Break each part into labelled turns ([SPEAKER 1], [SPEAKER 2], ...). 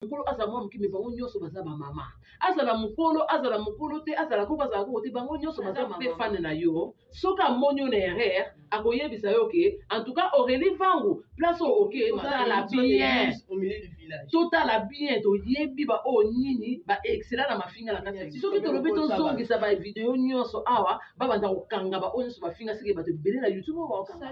[SPEAKER 1] mokolo azala mwana moke me bango nyonso baza bamama azala mokolo azala mokolo te azala koko azala koko te bango nyonso baza mpe fane na yo soki amoni yo na erreur akoyebisa yo ke en tout cas aurelie vangu place oyo oke totala bien totala bien toyebi baoyo nini baexcela na mafinga na kati soki tolobi tozongisa bavideo nyonso awa babanda kokanga baoyo nyonso bafinga seke bato ebele na youtube
[SPEAKER 2] oyo baokanga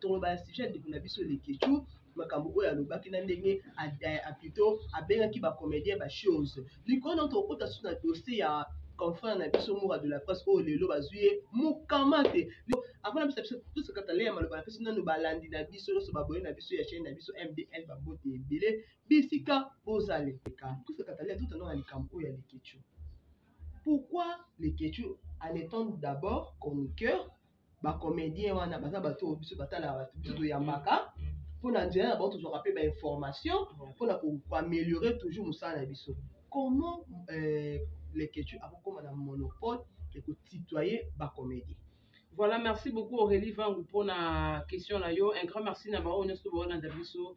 [SPEAKER 2] toloba ya sujet ya ndeko na biso lekechou makambo oyo alobaki na ndenge plutôt abengaki bacomédien bachose likolo na tokokota susu na dossier ya confrère na biso mura de la presse oyo lelo bazwi ye mokama te afana bisa biso tosekata le ya maloba na biso nano balandi na biso nyonso baboye na biso ya chaine na biso mdl babote ebele bisika bozali leka tosekata le totanda na likambo oyo ya lekechou pourquoi lekechou en étant d'abord chroniqueur ba comedien wana baza bato oyo biso batalaka bato biso toyambaka mpo na nzela na bango tozwaka mpe bainformation mpo na koameliore toujours mosala na biso comment euh, leketu akokoma na monopole ya kotutoye bacomedien Voilà, merci
[SPEAKER 1] beaucoup Aurélie Vangu pour na question na yo. Un grand merci na ba oyo nyonso baolanda biso.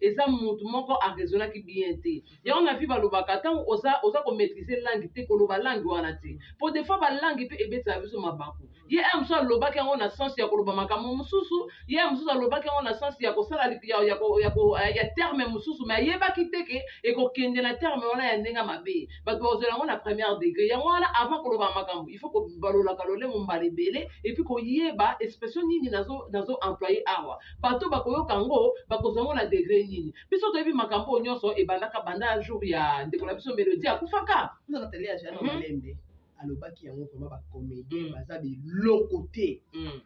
[SPEAKER 1] eza mutu moko a raisonnaki bien te yango na vie balobaka ntango oza, oza komaîtrise langue te koloba langue wana te mpo des fois balangue mpe ebetisaka biso mabaku ye aya mosusu alobaki yango na sense ya koloba makambo mosusu ye aya mosusu alobaki yango na sense ya kosala ya, ya, ya, ya, ya terme mosusu mai ayebaki te ke ekokende na terme wana ya ndenge mabe bato bakozela yango na première degré yango wana avant koloba makambo il faut kobalolaka lolemo mbala ebele epuis koyeba expression nini nazo, nazo employe awa bato oyo bakoyoka yango bakozwa yango na degre nini biso toyebi makambo oyo nyonso ebandaka banda jour ya ndeko na biso melodi akufaka ozaka tele ya jana Mhm.
[SPEAKER 2] malembe alobaki yango vraimen bacomédien Mm. baza biloko te Mm.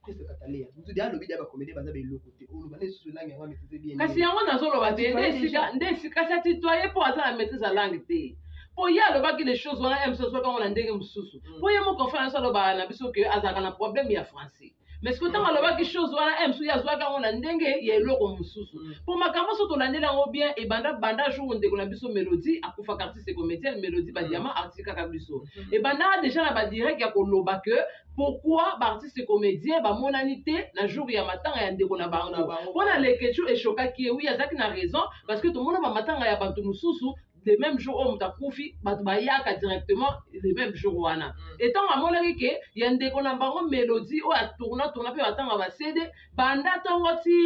[SPEAKER 2] prese kataleya mutudi alobi dia bacomédien baza biloko te oloba na esusu elangi yango ametise bien kasi yango nazoloba te
[SPEAKER 1] nde esika nde esika kasi atitoye mpo aza na maîtrise ya langue te mpo ye alobaki les choses wana mc azwaki yango na ndenge mosusu Mm. mpo ye moko fana nyonso alobaka na biso ke azalaka na problème ya français mais sikoyo ntango alobaki chose wana e mosusu ye azwaki yango na ndenge ya eloko mosusu mpo mm. makambo nyonso tolandeli yango bien ebanda banda jour ndeko na biso melodie akufaka artiste comédienne melodie badiama mm. atikaka biso mm. ebandaka déjà na badirect ya koloba que pourquoi baartiste comédien bamonani te na jour ya matanga ya ndeko na bango mpo na lekechu eshokaki ye wi azalaki na raison parce que tomona bamatanga ya bato mosusu le même jour oyo moto akufi bato bayaka directement le même jour wana mm. etango amonaki ke ya ndeko na bango melodie oyo atourna tourna mpe batanga basede banda ntongo ti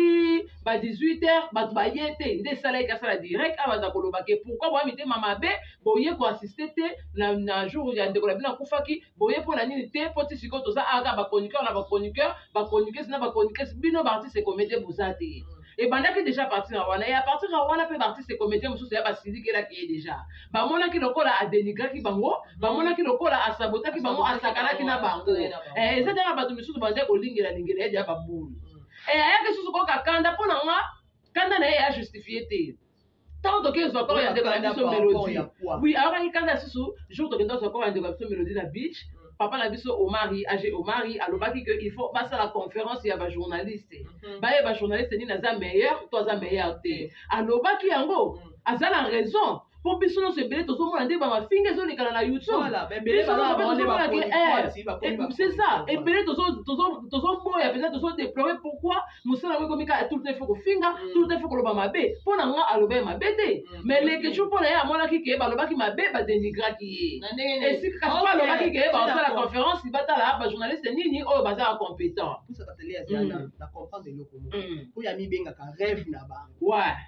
[SPEAKER 1] ba 18 heures bato baye te nde esalaki kasala direct a baza koloba ke pourkui boya mitema mabe boye koassiste te na, na jour ya ndeko na bino akufaki boye mpo na nini te mpo ti sikoyo toza awa kaka bachroniqueur na bachroniqueur bachroniqueuse na bachroniqueuse bino baartiste comédien boza te ebandaki deja partir ya wana ya partir ya wana mpe baartiste comédien mosusu ya basilikelaki ye deja bamonaki lokola adenigraki bango bamonaki lokola asabotaki bango asakanaki na bango eh, eza deja bato misusu bazali kolingela lingela ye deja babulu eh, ayaki susu koyoka kanda mpo na nga kanda na ye ya justifie te ntango toke ozwa koro ya ndeko na biso melodi wi ayokaki kanda lisusu jour tokenda ozwa koro ya ndeko na biso melodi na beach papa na biso omari age omari alobaki ke il faut basala conférence ya bajournaliste mhm. baye bajournaliste nini aza meilleur to aza meilleur te alobaki yango mm. aza na raison mpo biso nyonso ebele tozomona nde bamafinga ezolekana na
[SPEAKER 2] youtubeseza
[SPEAKER 1] ebele tozoboya mpenza tozodeplore pourquoi mosala yango ekomi kaka tout le temps il faut kofinga mm. tout le temps il faut koloba mabe mpo na nga aloba ye mabe te mm. mais leketshou mpo na ye amonaki ke balobaki mabe badenigraki ye esika kasi mpo alobaki ke basala conférence batala bajournaliste nini oyo bazala compétent mm.
[SPEAKER 2] oyo amibengaka rêve na bango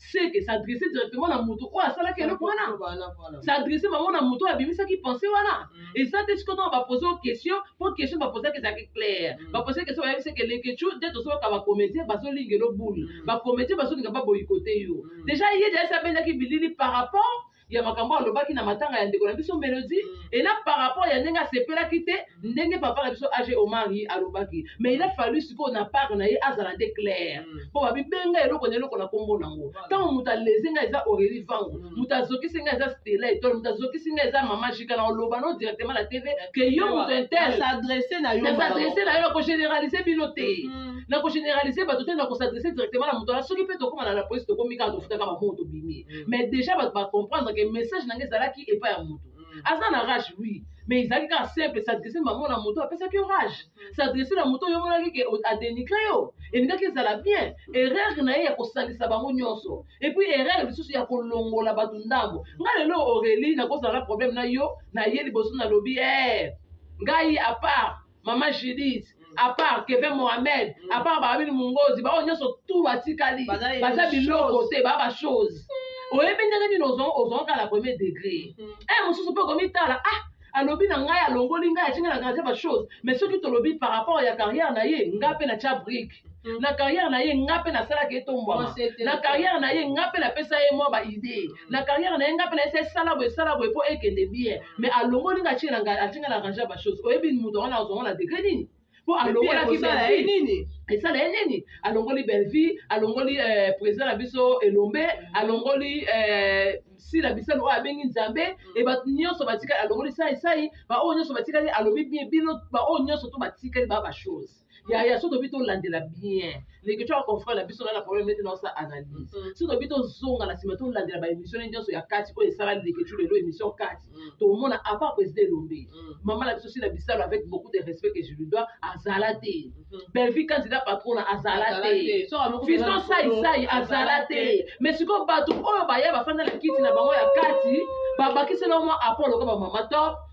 [SPEAKER 1] c'est que s'adresser directement na moto oyo asalaki eloko wana s'adresser bango na moto oyo abimisaki pensé wana mm. eza te sikoyo ntango bapose o question mpo question bapozaki ezalaki claire mm. bapose question bayebi seke lekecu nde tozoyoka bacomédien bazolinga elo boule mm. bacomédien bazolinga baboyikote yo déjà ye deasi abendaki bilili par rapport ya makambo alobaki na matanga ya ndeko na biso Melody mm. et là par rapport ya ndenge asepelaki te mm. ndenge papa na biso age Omari alobaki mais il a fallu sikoyo na part na ye azala nde clair mm. mpo babibenga eloko na eloko na nkombo nango ntango moto aleze ngai eza Aurélie Vango moto azokisi ngai eza Stella Etoile moto azokisi ngai eza Mama Jika na oloba no directement na TV que yo moto intel s'adresser na yo na
[SPEAKER 2] s'adresser na yo na ko généraliser
[SPEAKER 1] bino te na ko généraliser bato te na ko s'adresser directement na moto na soki mpe tokóma na la police tokomi kaka tofutaka bamoto bimi mm. mais déjà bato ba comprendre que message na ngai ezalaki epai ya moto mm. aza na rage oui mais ezalaki kaka simple s'adresse bango na moto apesaki yo rage mm. s'adresse na moto oyo omonaki ke adenigre yo elingaki ezala bien erreur na ye ya kosangisa bango nyonso epuis erreur lisusu ya kolongola bato ndambo nga lelo aurelie nakozala na problème na yo na ye liboso nalobi e eh, ngai apart mama judith apart keve mohamed apart baabini mongozi baoyo nyonso tu batikali baza biloko te baa bachose oyebi ndenge nini ozonga kala premier degré e mosusu mpe okomitala ah alobi na ngai alongoli ngai atinga na gardien bachose mais soki tolobi par rapport ya carrière na ye ngai mpe natya brike Mm. na carrière na ye nga mpe nasalaka ye tombwama na carrière na ye nga mpe napesa ye mwa baidee mm. na carrière na ye nga mpe nayesa esala boye esala boye mpo ekende bien mm. mais alongoli nga atinga na atinga na range ya bachose oyebi moto yango nazongo na degre nini mpo alongolaki bellevie nini
[SPEAKER 2] esala ye nini
[SPEAKER 1] alongoli bellevie alongoli euh, président na biso elombe alongoli euh, sila bisalo oyo abengi nzambe mm. e bato nyonso batikali alongoli sai sai baoyo nyonso batikali alobi bino baoyo nyonso to batikali baa bachose ya ya so tobi tolandela bien ndenge tya confrère na biso na na problème nete naosa analyse mm. so tobi tozonga na nsima tolandela baémission ne nyonso ya kati oyo esala leketyu lelo émission kati mm. tomona apart président elombe mm. mama na biso sila bisalo avec beaucoup de respect que je lui dois azala te mm-hmm. bellevie candidat patrona azala te fiston saisai azala te mais sikoyo bato oyo baya bafanda na kiti na bango ya kati babakisela mwa apport lokola bamama top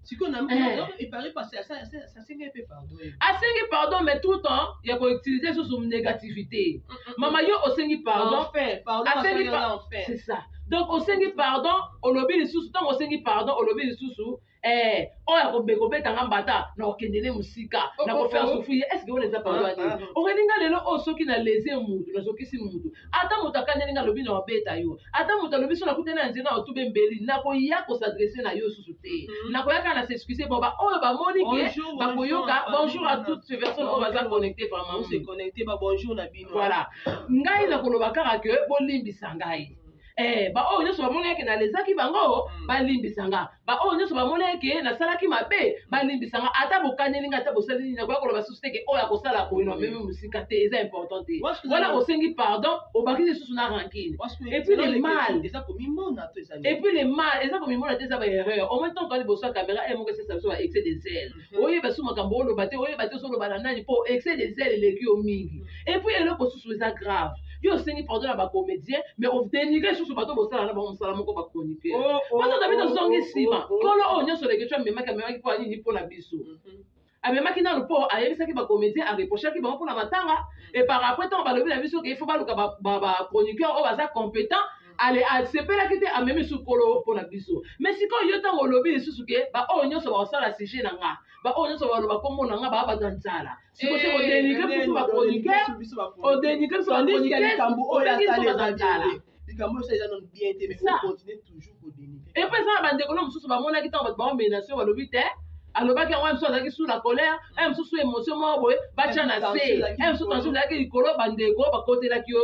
[SPEAKER 2] sikoyo na Eh. epare pasi asengi mpe pardon
[SPEAKER 1] asengi pardon mais tout le temps ya koutilize lisusu négativité mama yo osengi pardon Enfin, pardon asengi asengi pa-
[SPEAKER 2] na enfer. c'est ça donc
[SPEAKER 1] osengi pardon olobi lisusu ntango osengi pardon olobi lisusu eh, oyo akobe kobeta nga mbata na kokende ne mosika Oh, na oh, kofere oh. sufuye estce wana eza pardon Ah, te ah. okelinga lelo oyo soki na lese mutu nazokisi mutu ata moto akaneli nga alobi na obeta yo ata moto alobi so nakutani na nzela na otube mbeli nakoya kosadresse na yo susu te mhm. nakoya kaka na s'excuse po baoyo bamoni ke bakoyoka bonjour à toutes ces personnes oyo baza connecte vraiment se connecte ba
[SPEAKER 2] bonjour na bino voilà ngai
[SPEAKER 1] nakoloba kaka ke bolimbisa ngai eh, baoyo nyonso bamoni yake nalezaki bango mm. balimbisa nga baoyo nyonso bamona eke nasalaki mabe balimbisa nga ata bokaneli nga ata bosali nini nakoya koloba susu te ke oyo akosala boye na meme mosika te eza important te wana osengi pardon obaki lisusu na rankine epuis le mal eza komimona te eza baerreur au moins ntango toa liboso ya kamera e moko esesa biso ba excès de zele oyeba su makambo oloba te oyeba te ozoloba na nani mpo excès de zèle eleki yo mingi epuis eloko mosusu eza grave yo osengi pardon na bacomédien mais odenigre lisusu bato bosala na bango mosala moko bachroniqueur oh, oh, bato na bino oh, ozongi nsima kolo oyo nyonso leketio amemaki amemaki mpo ya nini mpo na biso mhm. amemaki nano mpo ayebisaki bacomédien areprochaki bango mpo na matanga e par après ntango balobi na biso ke ifo baluka bachroniqueur oyo baza compétent ale asepelaki te amemi su kolo mpo na biso me sikoyo yo ntango olobi lisusu ke baoyo nyonso bakosala sujet na nga baoyo nyonso baloba nkombo na nga baa bato ya nzala sikoso eh, odenike biso bakonike odenike biso bakonike likambo oyo asali eza nzala likambo oyo eza nanu
[SPEAKER 2] bien te mais ocontinue toujours kodenike epo eza na bandeko na
[SPEAKER 1] mosusu bamonaki ntango bato bango menation balobi te alobaki yango mosusu azalaki su na colère e mosusu émotion moko boye batya na se e mosusu tension ezalaki likolo bandeko bakotelaki yo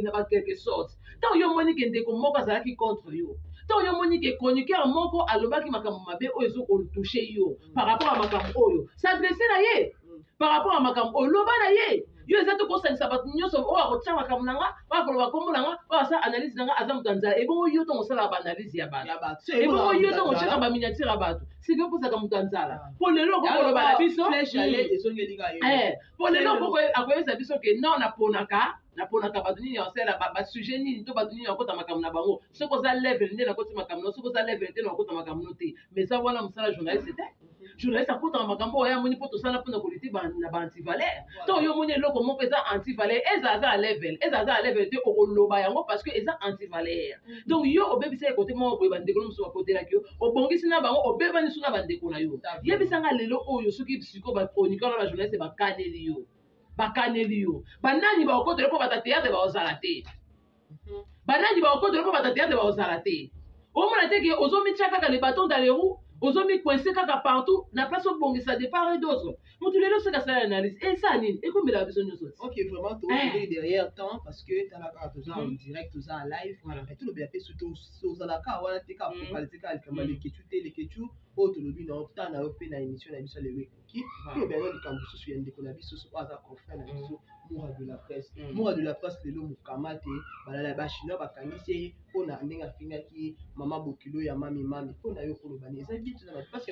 [SPEAKER 1] na ba quelque sorte ntango yo omoni ke ndeko moko azalaki contre yo ntango yo omoni ke chroniqueur moko alobaki makambo mabe oyo ezokoltouche yo par rapport ya makambo oyo s'adresse na ye par rapport ya makambo oyo loba na ye yo eza te kosangisa bato nyonso oyo akotya makambo na nga oyo akoloba nkombo na nga oyo asala analyse na nga aza moto ya nzala ebongo yo ntongo osalaka baanalyse ya bato ebongo yo ntongo otyaka baminiatire ya bato sikoyo kozalaka moto ya nzala mpo lelo okoki koloba na biso po lelo boko akoyebisa biso ke non naponaka naponaka bato nini asala basujet nini to bato nini akota makambo na bango soki oza level nde nakoti makambo no soki oza level te nakota makambo no te mais eza wana mosala journaliste te journaliste akotaka makambo oyo amoni mpo tosala mpona koliti na baantivaleur to oyo omoni eloko moko eza antivaleur eza aza level eza aza level te okoloba yango parce que eza antivaleur donc yo obebisa ye kote moko boye bandeko na mosusu bakotelaki yo obongisi na bango obebani su na bandeko na yo yebisanga lelo oyo soki siko bachroniqueur na bajournaliste bakaneli yo bakaneli yo banani bakokotela mpo bata teatre bakozala te mhm. banani bakokotela mpo bata teatre bakozala te omona te ke ozomitya kaka le baton dans le roue ozomicoince kaka partout na place obongisa depart et d'autres moto lelo soki asala analyse eza eh, nini ekomelaka biso nyonso ok vraiment tookende
[SPEAKER 2] eh. derrière temps parce que tala kaka toza en mm. direct toza en live mais tolobela mpe soki ozalaka wana te ka focalise mm. kaka likambo mm. lekecu te lekecu oyo tolobi na temps na yo mpe na émission na biso lelo ekoki tolobela na likambo mosusu ya ndeko na biso soki aza confrère na biso mura de la presse mura de la presse lelo mokama te balala ya bachinois bakangisi ye mpo na ndenge afingaki mama bokilo ya mami mami mpo na yo kolobani eza bitu na bapasi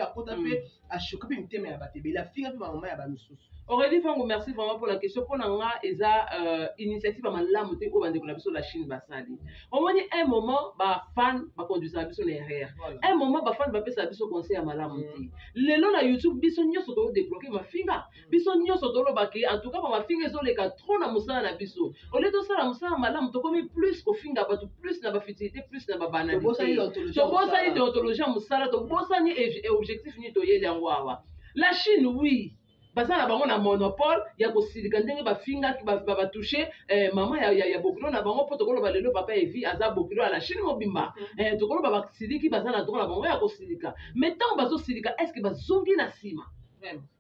[SPEAKER 2] akota mpe ashoke mpe mitema ya bato ebele afinga mpe bamama ya bamisusu oredi fango merci
[SPEAKER 1] vraiment mpo na question mpo na nga eza euh, initiative ya malamu te oyo bandeko na biso la chine basali omoni un moment bafan baconduisaka biso na erreur un moment bafan bapesaka biso conseil ya malamu te mm. lelo na youtube biso nyonso toodebloke mafinga biso nyonso toloba ke en tout cas bamafinga ezoleka trop na mosala na biso olie tosala mosala malamu tokomi plus kofinga bato plus na bafutilité plus na babanalitotobosani deontologie ya mosala tobosani objectif nini toyeli yango awa la chine oui baza na bango na monopole ya kosilika ndenge bafingaki babatushe eh, mama ya, ya, ya bokilo na bango mpo tokoloba lelo papa evi aza bokilo ya la chine mobimba mm. eh, tokoloba basiliki baza na droit na bango ya kosilika mais ntango bazosilika estce bazongi na nsima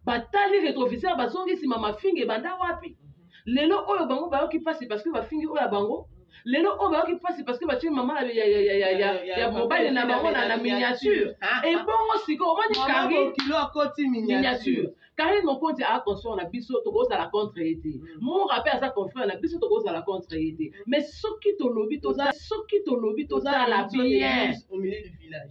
[SPEAKER 1] batali retroviseur bazongi nsima mafinga ebanda wapi lelo oyo bango bayoki mpasi parce que bafingi oyo ya bango lelo oyo bayoki mpasi parce que batye mama ya mobali na bango na miniature ebongo sikoyo omoni karikilo akoti
[SPEAKER 2] miniature karine mokonzi
[SPEAKER 1] aa consort na biso tokozala contre ye te mm. mora mpe aza confrère na biso tokozala contre ye te mais soki tolobi soki tolobi tozala bien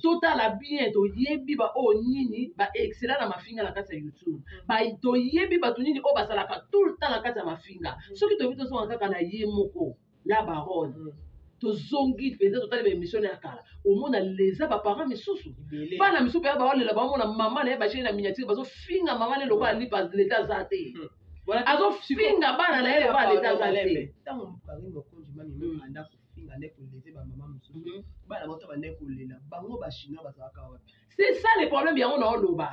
[SPEAKER 2] totala bien
[SPEAKER 1] toyebi baoyo nini baexcela na mafinga na kati ya youtube mm. toyebi bato nini oyo basalaka tout le temps na kati ya mafinga mm. soki toyebi tozonga kaka na ye moko la barone mm. tozongi mpenza totali baemission ya kala omona leza baparent misusu bana misusu mpenza baolela baomona mama na ye bashei na miniatire bazofinga mama na ye lokola lipa leta aza te azofinga bana na ye lokola leta aza te
[SPEAKER 2] finga nde ko lever ba maman mususu mm -hmm. bana bato ba nde ko lela bango ba chinois bazalaka wapi c'est ça le problème
[SPEAKER 1] yango na oloba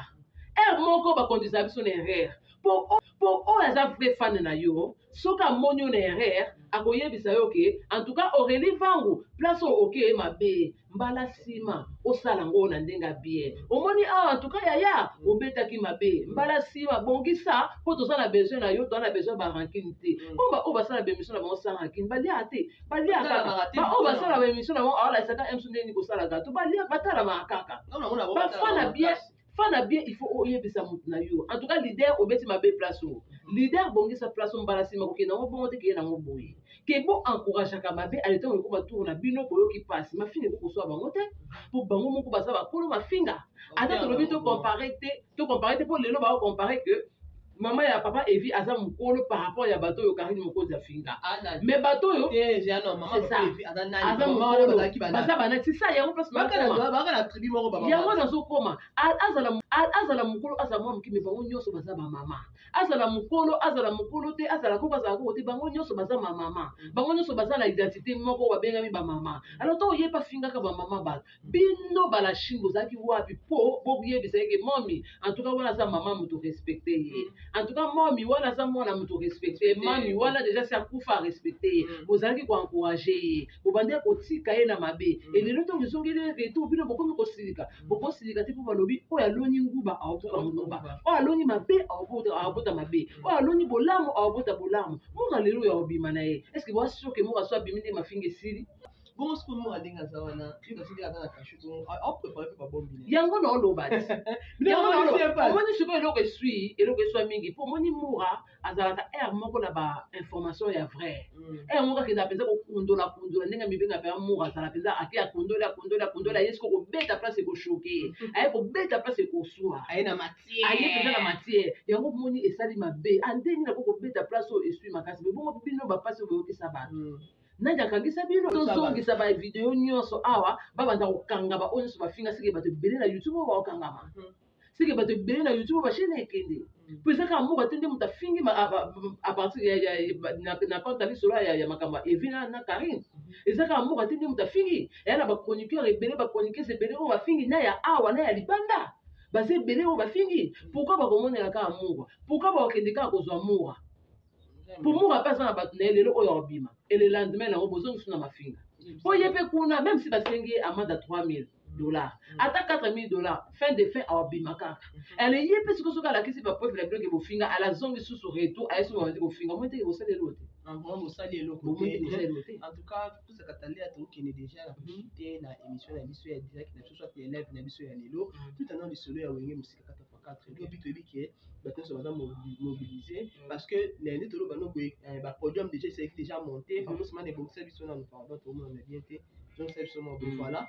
[SPEAKER 1] heure moko ba conduisa biso na erreur po po oyo aza vrai fan na yo soki amoni yo na erreur akoyebisa yo ke en tout cas Aurélie Vangu place oyo oke mabe mbala nsima osala yango na ndenge ya bien omoni awa antuka yaya obetaki mabe mbala nsima bongisa mpo toza na besoin na yo toza na besoin barankine te mpo mm. baoyo basala bemission na bango sans rankine baliaka te baliaka baoyo basala bemission na bango awalasaka mso ndenge nini kosala gato baliaka batalamaka kaka bafana bien fana bien il faut oyebisa motu na yo en tout cas leader obeti mabe place oyo leader bongisa place mbala nsima kokende yango bongo te keye nango boye ke bo encourageaka mabe ale ntango ekoma tour na bino boyoki mpasi mafinga ekoki koswa bango te mpo bango moko baza bakolo mafinga ata tolobi tocompare te tocompare te mpo lelo baocompare que Maman ya papa Evi aza mukolo par rapport ya bato yo Karine Mokonzi afinga. Ah, Mais bato yo eh, c'est
[SPEAKER 2] ça. Aza mukolo.
[SPEAKER 1] Baza bana c'est ça yango place baka na baka na tribu moko
[SPEAKER 2] baba. Yango na zo koma.
[SPEAKER 1] Azala azala mukolo azala mwa mukimi bango nyoso baza ba mama. Azala mukolo azala mukolo te azala ko bazala ko te bango nyoso baza ma mama. Bango nyoso baza na identité moko babengami ba mama. Alors to ye pa fingaka ba mama ba. bino balashing bozalaki wapi po boyebisa yeke momi antuka wana aza mama moto respecte ye mm. antuka momi wana aza mwana moto respecte ye mami wana deja si akufa arespecte ye mm. bozalaki koencourage ye bobandaki kotika ye na mabe mm. elelo ntango ezongeli retour bino bokomi kosilika bokosilika te mpo balobi oyo aloni nguba aokota nguba oyo aloni mabe aokota mabe oyo aloni bolamu aokota bolamu moka lelo oyo akobima na ye estce boasoke moka so abimi nde mafinga esili
[SPEAKER 2] bongo sikoyo moko ndenge aza wana yo
[SPEAKER 1] natikela aza na kashu bongo aoprepare mpe babombi na yango na oloba omoni sikoyo eloko eswi eloko eswa mingi mpo omoni mura azalaka aire moko na ba information ya vrai aire mm. moko akenda mpenza kokundola kundola ndenge mibenga mpenza mura azala mpenza ake akundoli akundoli akundoli aye siko kobeta place ekoshoke mm. aye kobeta place ekoswa aye mpenza na matière yango omoni esali mabe andenge ah, nako kobeta place oyo eswi makasi me bongo bino bapasi oyo boyokisa bato mm. nani akangisa bino tozongisa ba video nyonso awa babanda kokanga baoyo nyonso bafinga seke bato ebele na youtube oyo bakokangama hmm. seke bato ebele na youtube oyo bashene ekende hmm. po eza kaka mboka te nde moto afingi apartir na kota lisolo ya makambo ya evi na karine hmm. eza kaka mboka te nde moto afingi eya na bachroniqueur ebele bachroniqueuse ebele oyo bafingi na ya awa na ya libanda baza ebele oyo bafingi pourkui bakomonela kaka mura pourkui bakokende kaka kozwa mura pomura mpe aza na bato na ye lelo oyo akobima ele lendemain nango bozongisu na mafinga mpo ye mpe kuna meme si basengi ye amanda 3000 dollars mm. ata 4000 dollars fin de fin awabima kaka ale mm-hmm. ye mpe siko soki alakisi bapreuve na biloke bofinga alazongi susu retour aye soki babandi kofinga moi teke bosali elo te mosali eloko en
[SPEAKER 2] tout cas toza katalia tokokende déjà na profite mm-hmm. na émission na biso ya direct na biso soit ya live na biso ya lelo mm. tout anant lisolo ya wenge kata pancarte lobi toyebi ke bato nyonso baza mobilise parce que lundi toloba no boye eh, ba podium déjà esalaki déjà monte bango nsima na ebongisa biso nanu pardon tomonana bien te tozongisa biso mwa boye mm. voilà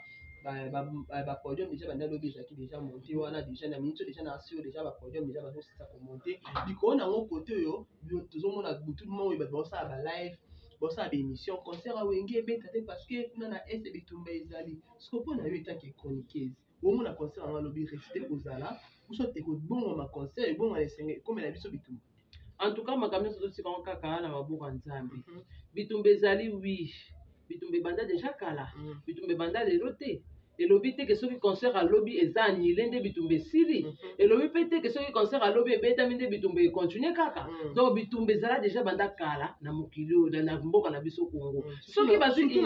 [SPEAKER 2] ba podium déjà banda lobi ezalaki déjà monte wana déjà na minute déjà na sur déjà ba podium déjà bazosisa komonte likolo na yango kote oyo tozomona butu moko oyo bato baosala ba live bosala baémission concert awenge ebeta te parce que kuna na est bitumba ezali soko mpo na yo etake chroniqueuse Bongo na concert yango alobi reste kozala biso te kobongama concert ebongana esenge ekomela biso bitumba. En tout cas makambo
[SPEAKER 1] nyonso totika yango kaka na maboko ya Nzambe. Mhm. Bitumba ezali oui. Bitumba ebanda deja kala. Mhm. Bitumba ebanda lelo te. elobi te ke soki concert alobi eza annule nde bitumba esili mhm. elobi mpe te ke soki concert alobi ebetami nde bitumba econtinue kaka mhm. donc bitumba ezala deja banda kala na mokili oyo na mboka na biso congo mhm. soki bazwi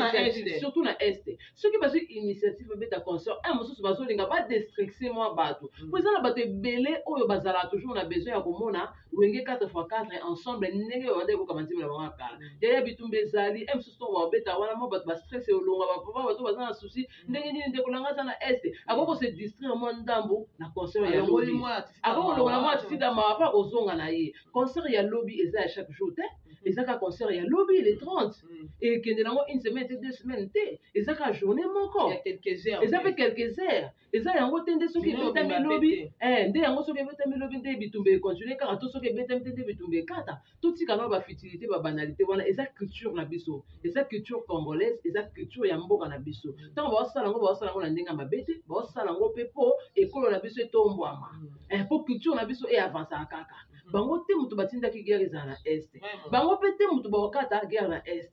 [SPEAKER 1] surtout na est soki bazwi initiative babeta concert un mosusu bazolinga badestricse mwa bato mm. mpo eza na bato ebele oyo bazalaka toujours na besoin ya komona wenge 4 x 4 ensemble ndenge oyo banda ekoka banzembo na bango ya kala mm. yaya bitumba ezali un mosusu ntongo babeta wana mwa bato bastress elonga bapapa bato baza na souci mm. ndenge nini ndeko nanga aza na este akoki kose distraire mwa ndambo na concert ya lobi akoki kolongola mwa atisida mawa mpo akozonga na ye concert ya lobi eza ya chaque jour te eza kaka concert ya lobi le 30 Mm. ekende nango une semaine te deux semaines te eza kaka journée moko Il y a quelques heures. eza mpe quelques heures eza yango te nde soki Journée ebetami mobimba lobi mpe eh, nde yango soki ebetami lobi nde bitumba econtinue kaka to soki ebetami te nde bitumba ekata totika nao bafutilité babanalité wana eza culture na biso eza culture congolaise eza culture ya mboka na biso ntango baosala yango baosala yango na ndenge ya mabe te baosala yango mpe mpo ekolo na biso etombwama Mm. eh, mpo culture na biso eavansaka kaka bango te moto batindaki guerre ezala na est bango mpe te moto baokata guerre na est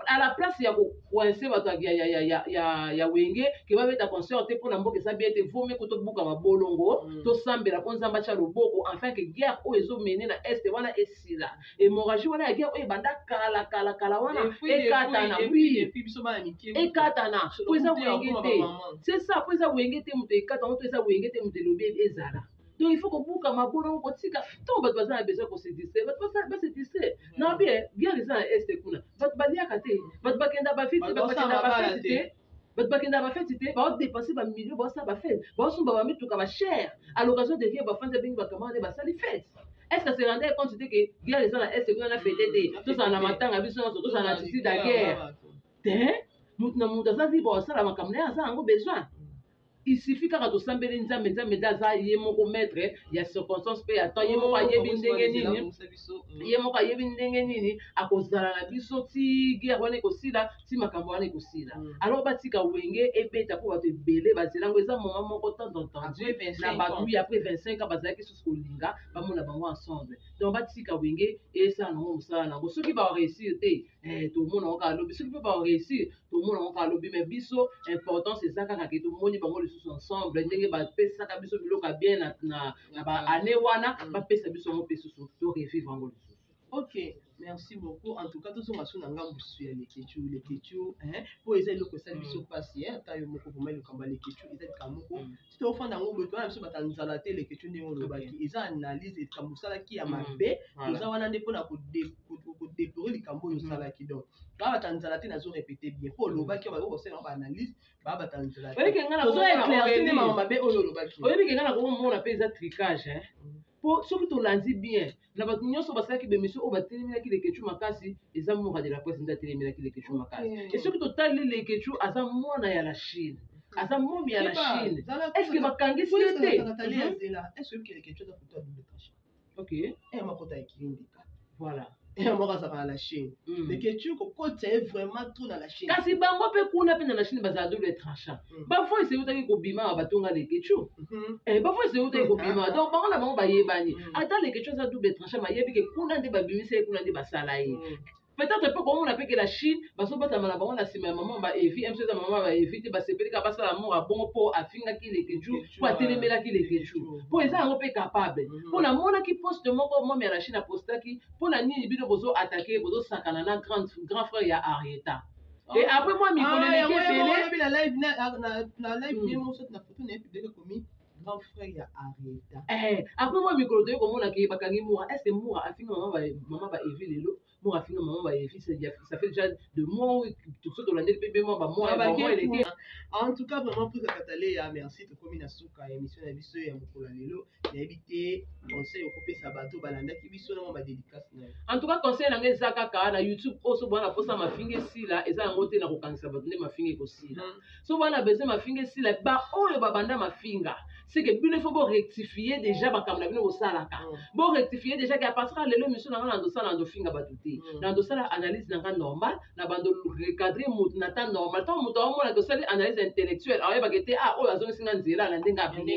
[SPEAKER 1] à la place ya kocoince bato ya, ya, ya, ya, ya, ya wenge ke babeta concert te mpo na mboka eza bien te vomi ko tobuka mabolongo mm. tosambela mpo nzambe atya loboko enfin ke guerre oyo ezomene na est wana esila hémorragie wana ya guerre oyo ebanda kala kala kala wana ekatana wi ekatana mpo eza wenge te c'est ça mpo eza wenge te moto ekata yango to eza wenge te moto elobi ezala donc il faut kobuka mabolo ngo kotika ntango bato baza na besoin kose distraire bato basala base distraire na bie bien eza na este kuna bato baliaka te bato bakenda bafete bato bakenda bafete te bato bakenda bafete te baodepense bamilio baosala bafete baosomba bamituka bachere à l'occasion de vie bafandi abengi bakamana nde basali fete est ce que se rendait compte te ke guerre eza na este kuna na fete te tozala na matanga biso nyonso tozala na tisi da guerre te moto na moto aza libre osala makambo na ye aza yango besoin il suffit kaka tosambeli nzambe nzambe nde aza ye moko maître ya circonstance mpe ya temps ye moko ayebi oh, ndenge nini mm. ye moko ayebi ndenge nini akozala na biso ti guerre wana ekosila ti makambo wana ekosila mm. alors batika wenge ebeta mpo bato ebele bazela yango eza moma moko temps entendu na bato wi après 25 ans bazalaki susu kolinga bamona bango ensemble donc batika wenge esala nango mosala nango soki baoreussir te eh, tomona yango kaka lobi soki mpe baoreussir tomona yango kaka lobi mais biso importance eza kaka ke tomoni bango lisusu ensemble ndenge bapesaka biso biloko ya bien na baannée wana mm. bapesa biso yango mpe susu to revivre yango lisusu ok
[SPEAKER 2] merci beaucoup en tout cas tozonga so na ngambo susu ya leketchu leketchu mpo eza eloko esali biso mpasi ata yo moko vraimen likambo ya leketchu eza likambo moko mm. soki ofanda yango boye twana biso bata nzala te leketio ndenge olobaki eza analyse likambo osalaki ya mm. mabe oza wana nde mpona kodeplore likambo oyo mm. osalaki donc baa bata nzala te nazo repete bien mpo olobaki mm. bakoki kosala ba analyse baa bata nzala teozoeclairci
[SPEAKER 1] nde mama mabe oyo olobaki oyebi kenga na komona mpe eza tricage mpo soki tolandi bien na bato nyonso basalaki bemission oyo batelemelaki lekechu makasi eza mura de la presse nde atelemelaki lekechu makasi e soki totali lekechu aza mwana ya la chine aza momi ya la chine estce bakangisi ye te mhm. ok eh, voilà moko azalaka na
[SPEAKER 2] chine mm. mais ketu kokotisa ye vraiment trop na la chine kasi bango mpe kuna
[SPEAKER 1] mpe na la chine bazala double tranchant mm. bavoice eutaki kobima wa batonga lekecu mm-hmm. eh, bavoice eutaki mm-hmm. kobima ah. donc bango na bango bayebani mm. ata lekecu aza double tranchant mayebi ke kuna nde babimisa ye kuna nde basala ye peut-être mpe komona mpe ke la chine bazobatama na bango na nsima ya mama ba evi mso eza mama ba evi te basepeli kaka basala moko ya bongo mpo afingaki lekecu mpo atelemelaki leketchu mpo eza yango mpe capable mhm. mpo namonaki poste moko mome ya rachine apostaki mpo na nini bino bozo atake bozosakana na grand frère ya arieta ah. et après moi mikolo ah, eleki ebele grand frère ya
[SPEAKER 2] arieta eh, après moi mikolo
[SPEAKER 1] toyei komona ke bakangi mura est ce que mura afinga mama ba evi lelo moko afinga mama bayefi ça fait déjà de mois toso tolandeli mpe bemwa bamoieleke en tout cas
[SPEAKER 2] vraiment prise ya kataleya merci tokomi na suka ya émission na biso ya mokolo ya lelo nayebi te conseil okopesa bato balandaki biso na mwa badédicace na yo en tout cas conseil
[SPEAKER 1] na ngai eza kaka na youtube oyo sobola na posa mafinga esila eza yango te na kokangisa bato nde mafinga ekosila so bana besoin mafinga esila baoyo babanda mafinga seke bino ifo borectifie déjà makambo na bino bosalaka mm. borectifie déjà ke apartir ya lelo misu na ngai nazosala nazofinga bato te mm. nazosala analyse na ngai normal na bando recadre motu na temps normal ntango moto aomona ke osali analyse intellectuelle aoyebaka te a ah, oyo azongisi ngai nzela na ndenge abien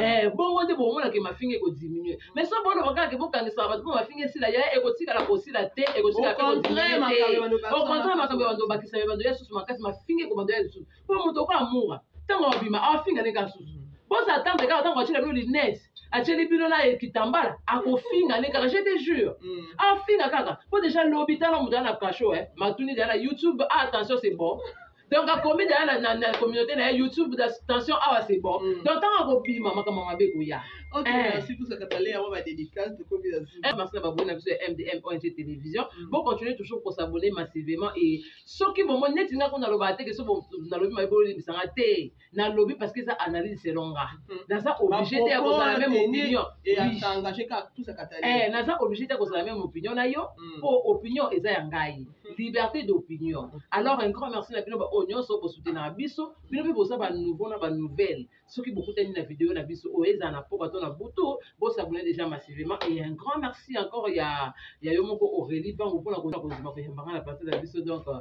[SPEAKER 1] eh, bongo nde bomonake mafinga ekodiminue mais so boloba kaka ke bokangisaka bato mpo mafinga esila ya ekotikala kosila te ekotikala pe kotinue te okontre makambo ya bando obakisa ya bando ya susu makasi mafinga ekobando ya lisusu mpo moto okola mura ntango abima afinga ndenge asusu boza atambe kaka ntango atyela bino linete atyeli bino na kitambala akofinga nde kaka je te jure mm. afinga kaka mpo deja lobi tala moto ya na kasho eh. matuni deja na youtube ah, attention c'est bon donc akomi deja na, na, na communauté na ye youtube da tension awa c'est bon mm. donc ntango akobima makambo mabe ekoya
[SPEAKER 2] merci na baboni na biso ya
[SPEAKER 1] mdm ong télévision mm. bocontinue toujours kosabone massivement e soki bomoni neti ngai kuna nalobaka te ke so nalobi mabe bolimbisanga te nalobi parce que eza analyse selon nga hmm. naza obligé te ya kozala meme opinion
[SPEAKER 2] eh, naza obligé te ya kozala
[SPEAKER 1] meme opinion na yo hmm. po opinion eza ya ngai hmm. liberté d'opinion alors un grand merci na bino baoyo oh, nyonso bosutenaka biso bino mpe boza banouveau na banouvelle soki bokutani na video na biso oyo oh, ezala na poka to na butu bosabone déjà massivement et un grand merci encore ya ya yo moko aurélie bango mpona kozima koyembanga na place na biso donc euh,